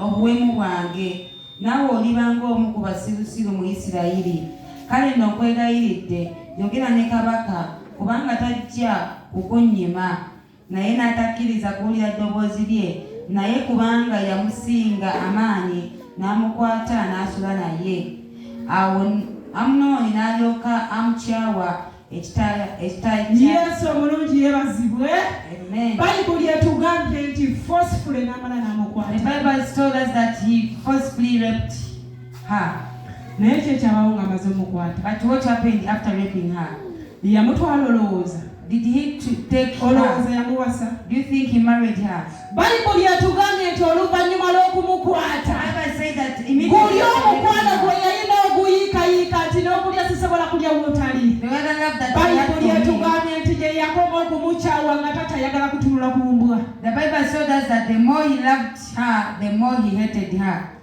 obuwemu bwange, naawe oliba ng'omu ku basirusiru mu Isirayiri. Kale nno nkwegayiridde, yogera ne kabaka, kubanga tajja kukunnyima. Naye n'atakkiriza kuwulira ddoboozi lye, naye kubanga yamusinga amaanyi, n'amukwata n'asula naye. Awo Amunoni n'alyoka amukyawa. yesu omulungi yebazibwe bayibuli etugambye nti forcefully namala namukwata naye kyekyabawo nga amaze omukwatayamutwala olowooza olowooza yamuwasa Bayibuli yatugambye nti oluvannyuma lw'okumukwata guli omukwano gwe yalina oguyiikayiika nti n'okulya sisobola kulya wootali bayibuli yatugambye nti gye yakoma okumukyawa nga tatayagala kutunula ku mbwa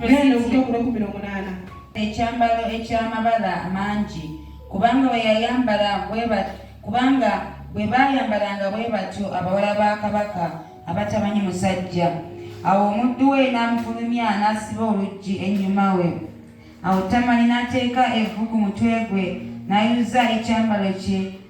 Genda obuto ku lw'ekkumi n'omunaana. Ekyambalo eky'amabala amangi, kubanga bwe yayambala bwe kubanga bwe baayambalanga bwe batyo abawala ba kabaka abatamanyi musajja. Awo omuddu we n'amufulumya n'asiba oluggi ennyuma we. Awo Tamali n'ateeka evvu ku mutwe gwe n'ayuza ekyambalo kye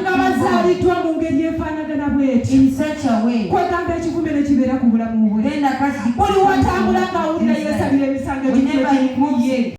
ngabazaliddwa mu ngeri efaanagana bweti kwegamba ekivume ne kibeera ku bulamu bwe buli watambula ng'awulira yeesabira emisango egimuye